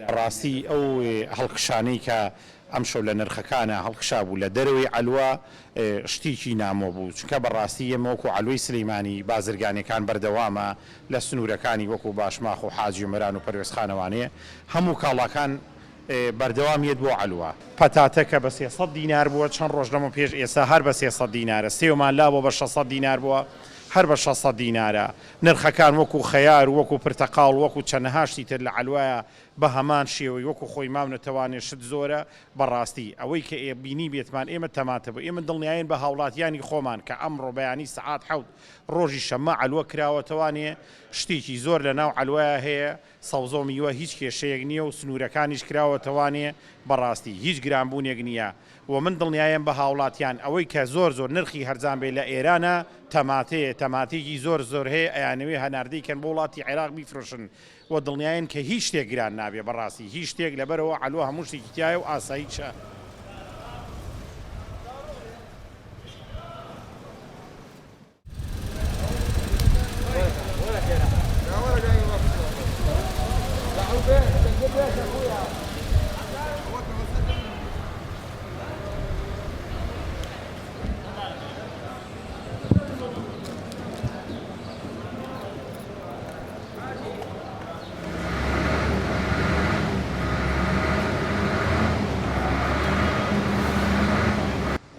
بەڕاستی ئەو هەڵکشانەی کە ئەمشەو لە نرخەکانا هەڵکشابوو لە دەرەوەی عەلوە شتیکی نامۆ بوو چونکە بەڕاستی ئێمە وەکو عەلوەی سلیمانی بازرگانیەکان بەردەوامە لە سنورەکانی وەکو باشماخ و حاجی ئۆمەران و پەروێزخانەوانێ هەموو کاڵاکان بەردەوام یەت بۆ عەلوە. پەتاتە کە بە سێ سەد دینار بووە چەند ڕۆژ لەمە پێش ئێستا هەر بە سێ سەد دینارە سێومان لابووە بە شەش سەد دینار بووە هەر بە شەش سەد دینارە نرخەکان وەکو خەیار و وەکو پرتەقاڵ وەکو چەنەها شتی تر لە عەلوایە بە هەمان شێوەی وەکو خۆی ماونەتەوانێ شت زۆرە بەڕاستی ئەوەی کە ئێ بینیبێتمان ئێمە تەماتە بوو، ئێمە دڵنیاین بە هاوڵاتیانی خۆمان کە ئەمڕۆ بەیانی سەعات حەوت ڕۆژی شەممە عەلوە کراوەتەوانێ شتێکی زۆر لە ناو عەلوەیا هەیە سەوزەو میوە هیچ کێشەیەک نیە و سنورەکانیش کراوەتەوانێ بەڕاستی هیچ گران بوونێک نیە و من دڵنیایم بە هاوڵاتیان ئەوەی کە زۆر زۆر نرخی هەرزان بێ لە ئێرانە تەماتەیە تەماتێکی زۆر زۆر هەیە ئەیانەوێ هەناردەی کەن بۆ وڵاتی عێراق بیفرۆشن وە دڵنیاین کە هیچ شتێک گران نابێ بەڕاستی هیچ شتێک لەبەرئەوە عەلوە هەموو شتێکی تیایە و ئاساییشە.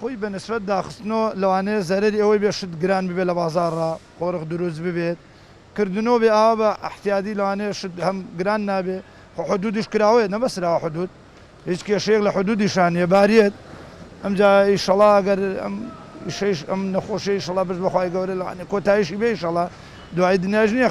خۆی بە نسبەت داخستنەوە لەوانەیە زەرەری ئەوەی بێت شت گران ببێت لە بازاڕا قۆرخ دروست ببێت کردنەوە بێ ئاوا بە احتیادی لەوانەیە شت هەم گران نابێ خۆ حدودیش کراوەیە نەبەسراوە حدود هیچ کێشەیەک لە حدودیشا نیە باریەت ئەمجا ئیشەڵا گەر ئەم ئیشەیش ئەم نەخۆشیە ئیشەڵا بس بەخوای گەورە لەوانەیە کۆتایشی بێ ئیشەڵا دوایی دنیاش نیە خەڵک